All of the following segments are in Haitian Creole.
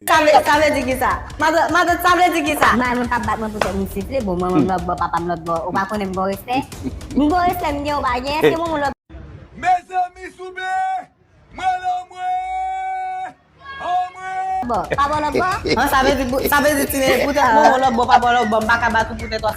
Sa vle di kisa? Matant sa vle di kisa? Manman m pa bat mwen pou tèt mwen souple, bon manman m lòt bò papa m lòt bò ou pa konnen m gon respè? M gon respè m gen ou pa gen èske moun lòt Mezanmi souple m al anmwee anmwee. Bò pa bò lòt bò? Sa vle di ti nene pou tèt moun lòt bò pa bò lòt bò m pa ka bat ou pou tèt ou.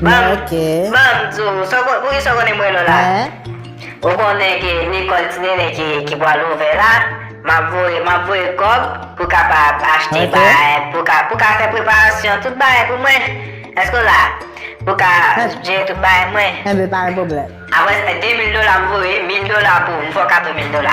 Banm di w, pou kisa w konnen m rele w la? Ou konnen ke lekòl ti nene ki pral ouvè la, m ap voye kòb pou kapab achte bagay, pou ka fè preparasyon tout bagay pou mwen. Èske w la? Pou ka jere tout bagay mwen. Enben, pa gen pwoblèm. Apre sa, 2 mil dola m voye, 1000 dola pou m fè w kado 1000 dola.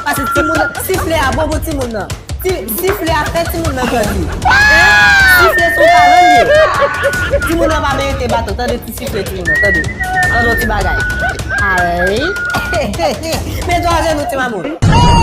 Pase timoun nan, sifle a bon pou timoun nan. Sifle a fè timoun nan grandi. Sifle son talan li ye. Timoun nan pa merite baton. Tande ti sifle timoun nan, tande. Tande yon ti bagay. Aley. Men do ajenou ti mamoun. Hey!